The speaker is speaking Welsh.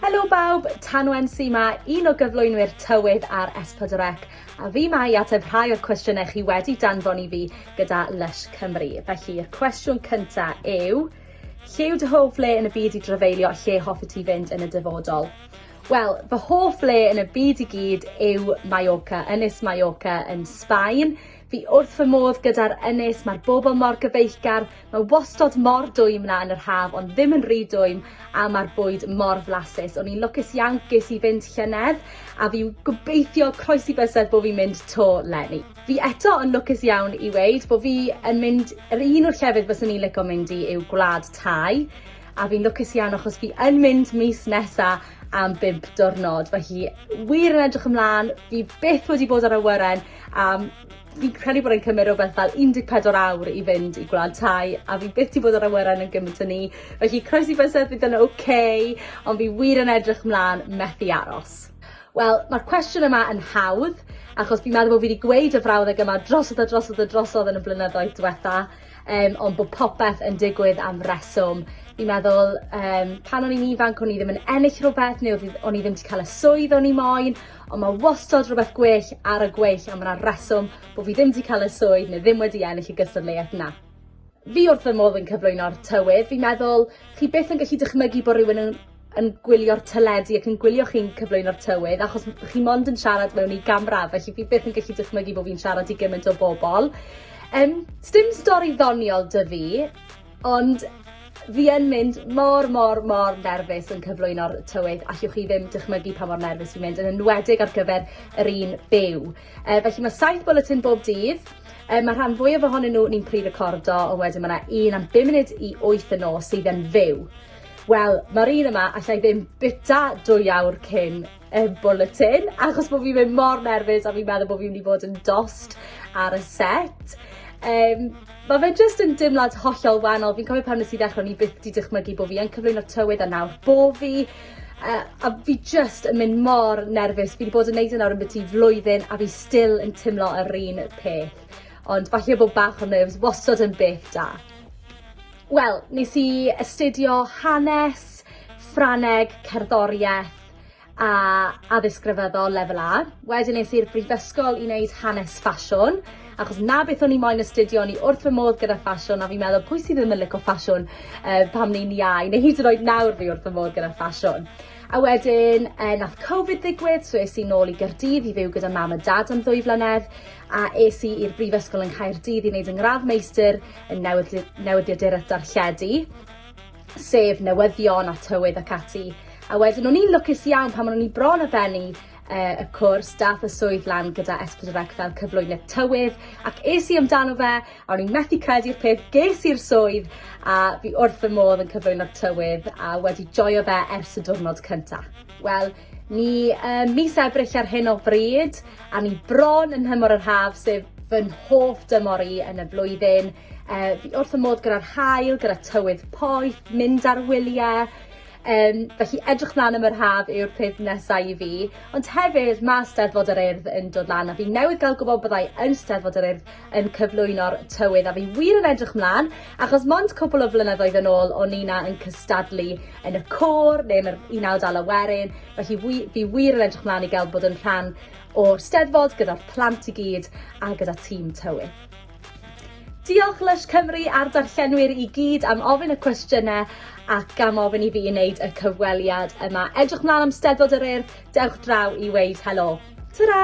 Helo bawb, Tanwen sy ma, un o gyflwynwyr tywydd ar S4C, a fi mae i ateb rhai o'r cwestiynau chi wedi danfon i fi gyda Lush Cymru. Felly, y cwestiwn cynta yw, lle yw dy hoff le yn y byd i drafeilio a lle hoffi ti fynd yn y dyfodol? Wel, fy hoff le yn y byd i gyd yw Mallorca, Ynys Mallorca yn Sbaen. Fi wrth fy modd gyda'r ynys, mae'r bobl mor gyfeillgar, mae wastod mor dwym na yn yr haf ond ddim yn rhy dwym a mae'r bwyd mor flasus. O'n i'n lwcus iawn ges i fynd llynedd a fi gobeithio croes i bysedd bod fi'n mynd to lenni. Fi eto yn lwcus iawn i weid bod fi yn mynd, yr un o'r llefydd fyswn i'n lico mynd i yw Gwlad Thai a fi'n lwcus iawn achos fi yn mynd mis nesa am bump diwrnod. Felly wir yn edrych ymlaen, fi byth wedi bod ar awyren A fi'n credu bod e'n cymryd rhywbeth fel 14 awr i fynd i gwlad tai a fi byth i bod ar awyren yn gymaint o ni. Felly croes i bysedd bydd yn oce, okay, ond fi wir yn edrych mlaen methu aros. Wel, mae'r cwestiwn yma yn hawdd, achos fi'n meddwl bod fi wedi gweud y frawddeg yma drosodd a drosodd a drosodd yn y blynyddoedd diwetha, um, ond bod popeth yn digwydd am reswm. Fi'n meddwl, um, pan o'n i'n ifanc, o'n i ddim yn ennill rhywbeth, neu o'n i ddim wedi cael y swydd o'n i moyn, Ond mae wastod rhywbeth gwell ar y gweill a mae yna reswm bod fi ddim wedi cael y swydd neu ddim wedi ennill y gystadleuaeth na. Fi wrth fy modd yn cyflwyno'r tywydd, fi'n meddwl chi byth yn gallu dychmygu bod rhywun yn yn gwylio'r teledu ac yn gwylio chi'n cyflwyno'r tywydd achos chi mond yn siarad mewn i gamra felly fi byth yn gallu dychmygu bod fi'n siarad i gymaint o bobl. Yym sdim stori ddoniol 'da fi. Ond fi yn mynd mor mor mor nerfus yn cyflwyno'r tywydd, allwch chi ddim dychmygu pa mor nerfus fi'n mynd, yn enwedig ar gyfer yr un byw. E, felly mae saith bulletin bob dydd, e, mae rhan fwyaf ohonyn nhw ni'n pre-recordo, ond wedyn mae yna un am 5 munud i 8 y nos sydd yn fyw. Wel, mae'r un yma allai ddim bita dwy awr cyn y bwletin achos bo' fi mynd mor nerfus a fi'n meddwl bo' fi myn' i bod yn dost ar y set. Yym ma' fe jyst yn dimlad hollol wanol fi'n cofio pan nes i ddechre o'n i byth 'di dychmygu bo' fi yn cyflwyno tywydd a nawr bo' fi yy a fi jyst yn mynd mor nerfus fi 'di bod yn neud e nawr ambytu flwyddyn a fi still yn timlo yr un peth. Ond falle bo' bach o nerves wastod yn beth da. Wel nes i astudio hanes, Ffrangeg, cerddorieth Addysg a Addysg Grefyddol Lefel A. Wedyn es i'r brifysgol i wneud hanes ffasiwn, achos 'na beth o'n i moyn astudio, o'n i wrth fy modd gyda ffasiwn a fi'n meddwl pwy sydd ddim yn lico ffasiwn yy pan ni'n iau neu hyd yn oed nawr fi wrth fy modd gyda ffasiwn. A wedyn yy nath Covid ddigwydd so es i nôl i Gardydd i fyw gyda mam a dad am ddwy flynedd a es i i'r brifysgol yng Nghaerdydd i neud yng ngradd meistr yn newydd- newyddiadura darlledu. sef newyddion a tywydd ac ati. A wedyn o'n i'n lwcus iawn pan o'n i bron a bennu uh, y cwrs, dath y swydd lan gyda S4C fel cyflwynydd tywydd, ac es i amdano fe, a o'n i'n methu credu'r peth, ges i'r swydd, a fi wrth y modd yn cyflwyno'r tywydd, a wedi joio fe ers y diwrnod cyntaf. Wel, Ni ym mis Ebrill ar hyn o bryd, a ni bron yn nhymor yr haf, sef fy nhoff dymor i yn y flwyddyn. E, fi wrth y modd gyda'r hael, gyda tywydd poeth, mynd ar wyliau, Um, felly edrych mlaen am yr haf yw'r peth nesau i fi. Ond hefyd, mae Steddfod yr Urdd yn dod lan a fi newydd gael gwybod byddai yn Steddfod yr Urdd yn cyflwyno'r tywydd a fi wir yn edrych mlan achos mond cwpl o flynyddoedd yn ôl o'n i 'na yn cystadlu yn y côr neu yn yr un awd ala werin felly wi fi wir yn edrych mlan i gael bod yn rhan o'r Steddfod gyda'r plant i gyd a gyda tîm tywydd. Diolch Lush Cymru a'r darllenwyr i gyd am ofyn y cwestiynau ac am ofyn i fi wneud y cyfweliad yma. Edrych mlaen am Steddfod yr Urdd, dewch draw i weud helo. Ta-ra!